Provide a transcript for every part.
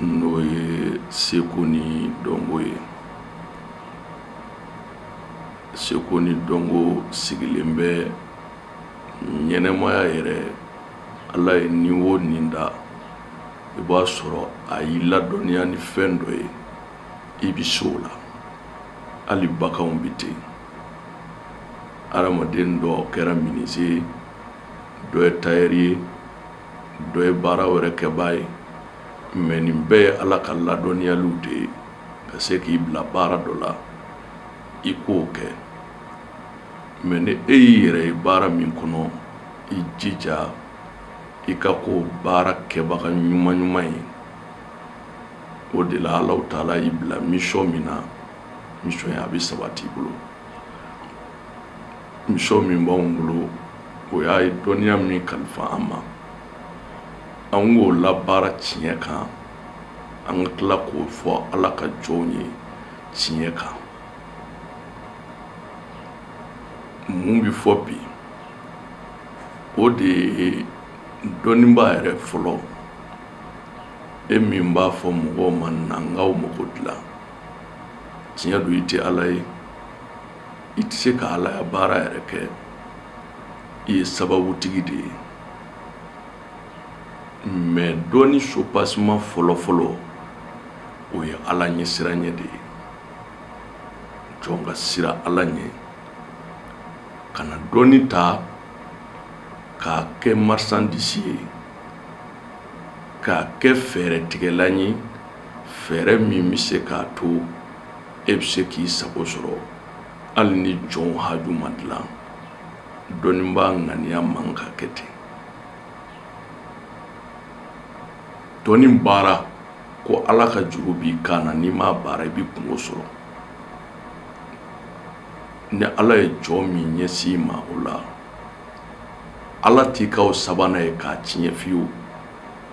n'o ye seko ni dɔnko ye seko ni dɔnko sigilen bɛ ɲɛnamaya yɛrɛ ala ye ni wo ni da i b'a sɔrɔ a y'i ladɔnniya ni fɛn dɔ ye i bi se o la hali baganw bi ten adamaden dɔ kɛra minise dɔ ye tayɛri ye dɔ ye baara wɛrɛ kɛbaa ye mɛ nin bɛɛ ye ala ka ladɔnniyaliw de ye ka se k'i bila baara dɔ la i k'o kɛ mɛ ni e y'i yɛrɛ ye baara min kɔnɔ i jija i ka k'o baara kɛbaga ɲuman ɲuman ye o de la alahu taala y'i bila misiyɔn min na misiyɔn ye a bɛ sabati i bolo misiyɔn min b'anw bolo o y'a ye dɔnniya min kalifa an ma an k'o labaara tiɲɛ kan an ka tila k'o fɔ ala ka jɔnw ye tiɲɛ kan mun bɛ fɔ bi o de ye dɔnnibaa yɛrɛ fɔlɔ e min b'a fɔ mɔgɔw ma na n k'aw mago dilan tiɲɛ don i tɛ ala ye i tɛ se ka alaya baara yɛrɛ kɛ i ye sababutigi de ye mɛ dɔnni sopasima fɔlɔfɔlɔ o ye ala ɲɛsiranɲɛ de ye jɔn ka siran ala ɲɛ kana dɔnni ta k'a kɛ marisandisi ye k'a kɛ fɛɛrɛ tigɛlan ye fɛɛrɛ min bɛ se k'a to e bɛ se k'i sago sɔrɔ hali ni jɔnw haju ma dilan dɔnnibaa ŋaniya man ka kɛ ten dɔnni baara ko ala ka juru b'i kan na n'i m'a baara i b'i kunko sɔrɔ ni ala ye jɔn min ɲɛsin i ma o la ala t'i k'aw sabanan ye k'a tiɲɛ fiyewu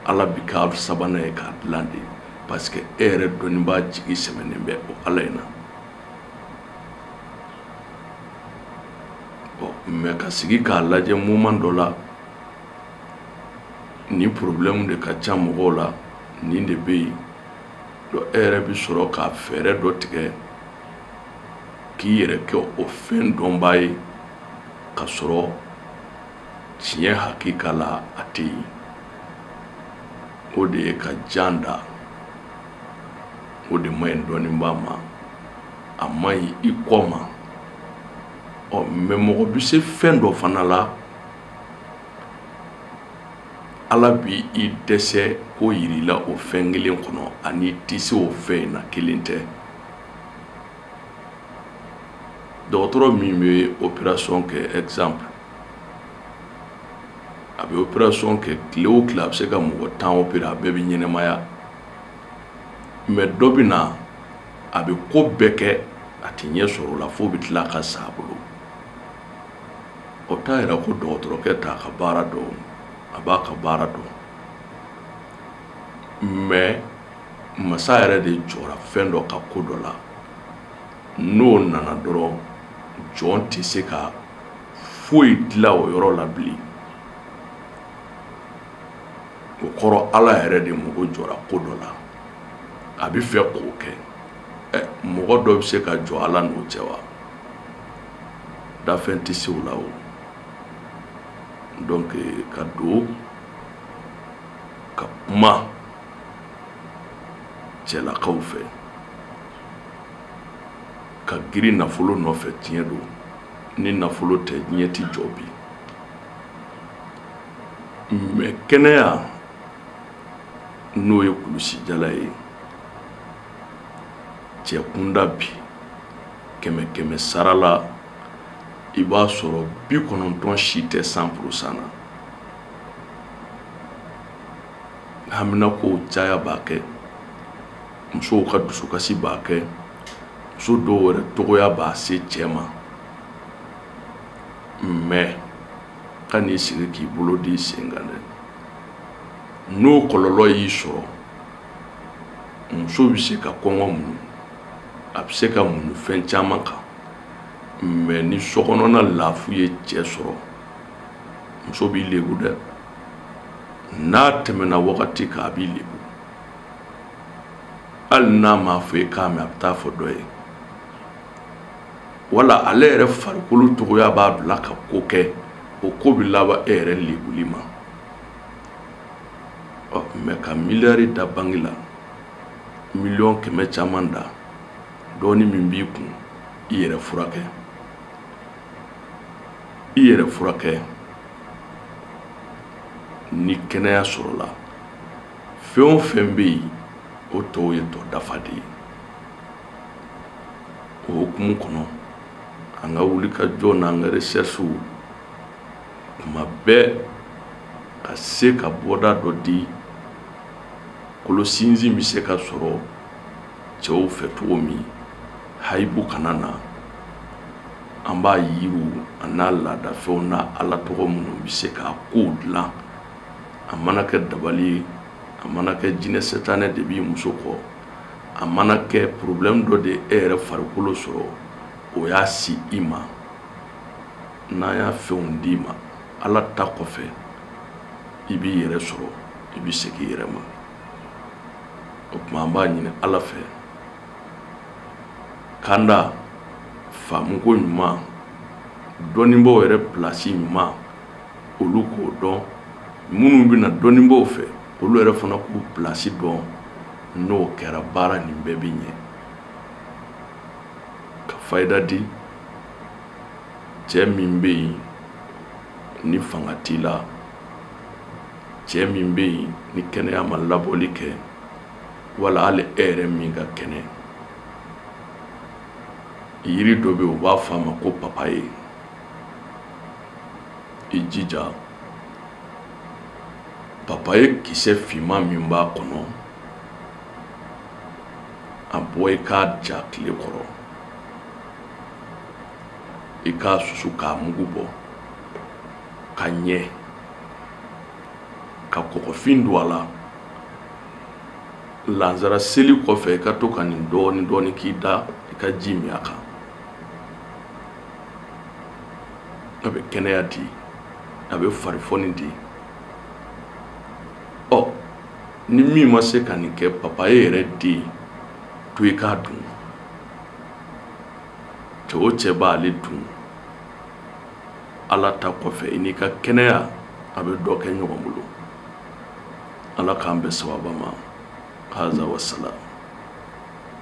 ala b'i k'aw sabanan ye k'a dilan de parce que e yɛrɛ dɔnnibaa jigi sɛmɛnen bɛ o ala in na bon mais ka sigi k'a lajɛ moment dɔ la nin problème de ka ca mɔgɔw la nin de bɛ yen donc e yɛrɛ bɛ sɔrɔ ka fɛɛrɛ dɔ tigɛ k'i yɛrɛ kɛ o fɛn dɔnbaa ye ka sɔrɔ tiɲɛ hakika la a tɛ yen o de ye ka jan da o de man ɲi dɔnnibaa ma a man ɲi i kɔ ma ɔ mɛ mɔgɔ bɛ se fɛn dɔ fana la ala bi i dɛsɛ ko yir'i la o fɛn kelen kɔnɔ a ni i tɛ se o fɛn in na kelen tɛ dɔgɔtɔrɔ min bɛ operasɔn kɛ exemple a bɛ operasɔn kɛ tile o tile a bɛ se ka mɔgɔ tan opere a bɛɛ bɛ ɲɛnamaya mɛ dɔ bɛ na a bɛ ko bɛɛ kɛ a tɛ ɲɛ sɔrɔ o la fo o bɛ tila ka sa a bolo o t'a yira ko dɔgɔtɔrɔkɛ t'a ka baara dɔn a b'a ka baara dɔn mɛ masa yɛrɛ de jɔra fɛn dɔ ka ko dɔ la n'o nana dɔrɔn jɔn tɛ se ka foyi dilan o yɔrɔ la bilen o kɔrɔ ala yɛrɛ de mago jɔra ko dɔ la a b'a fɛ k'o kɛ ɛ mɔgɔ dɔ bɛ se ka jɔ ala n'o cɛ wa danfɛn tɛ se o la o donc ka don ka kuma cɛlakaw fɛ ka girin nafolo nɔfɛ tiɲɛ don ni nafolo tɛ diɲɛ ti jɔ bi mɛ kɛnɛya n'o ye kulusijala ye cɛ kunda bi kɛmɛ kɛmɛ sara la i b'a sɔrɔ bi kɔnɔntɔn si tɛ san purusan na haminakow caya b'a kɛ musow ka dusukasi b'a kɛ muso dɔw yɛrɛ cogoya b'a se cɛ ma mɛ ka n'i sigi k'i bolo d'i sen kan dɛ n'o kɔlɔlɔ y'i sɔrɔ muso bɛ se ka kɔngɔ muɲu a bɛ se ka muɲu fɛn caman kan mɛ ni sokɔnɔna lafu ye cɛ sɔrɔ muso b'i lebu dɛ n'a tɛmɛna wagati kan a b'i lebu hali n'a m'a fɔ e k'a mɛn a bɛ taa a fɔ dɔ ye wala ale yɛrɛ farikolo cogoya b'a bila ka ko kɛ o ko bɛ laban e yɛrɛ lebuli ma ɔ mɛ ka miliyari da banki la miliyɔn kɛmɛ caman da dɔɔni min b'i kun i yɛrɛ furakɛ i yɛrɛ furakɛ ni kɛnɛya sɔrɔla fɛn o fɛn bɛ yen o tɔw ye tɔ dafa de ye o hukumu kɔnɔ an ka wulikajɔ n'an ka resɛrisiw kuma bɛɛ ka se ka bɔda dɔ di kolo sinsin bɛ se ka sɔrɔ cɛw fɛ cogo min hayibu kana na an b'a yiriw an'a laadafɛnw n'a ala tɔgɔ minnu bɛ se ka kow dilan a mana kɛ dabali ye a mana kɛ jinɛ setanɛ de b'i muso kɔ a mana kɛ problème dɔ de e yɛrɛ farikolo sɔrɔ o y'a se i ma n'an y'a fɛnw d'i ma ala ta kɔfɛ i b'i yɛrɛ sɔrɔ i bɛ segin i yɛrɛ ma o tuma an b'a ɲini ala fɛ k'an da faamuko ɲuman dɔnnibaaw yɛrɛ pilasi ɲuman olu k'o dɔn minnu bɛna dɔnnibaaw fɛ olu yɛrɛ fana k'u pilasi dɔn n'o kɛra baara nin bɛɛ bɛ ɲɛ ka fayida di cɛ min bɛ yen ni fanga t'i la cɛ min bɛ yen ni kɛnɛya ma laboli kɛ wala hali e yɛrɛ min ka kɛnɛ yiri dɔ bɛ yen u b'a fɔ a ma ko papaye i jija papaye kisɛ finman min b'a kɔnɔ a bɔ i k'a ja tile kɔrɔ i k'a susu k'a mugu bɔ ka ɲɛ ka kɔgɔfin don a la lansara seli kɔfɛ i ka to ka nin dɔɔni dɔɔni k'i da i ka ji min a kan a bɛ kɛnɛya di a bɛ farifoni di ɔ ni min ma se ka nin kɛ papaye yɛrɛ den to i k'a dun cɛ o cɛ b'ale dun ala ta kɔfɛ i n'i ka kɛnɛya a bɛ dɔ kɛ ɲɔgɔn bolo ala k'an bɛn sawaba ma haza wasalam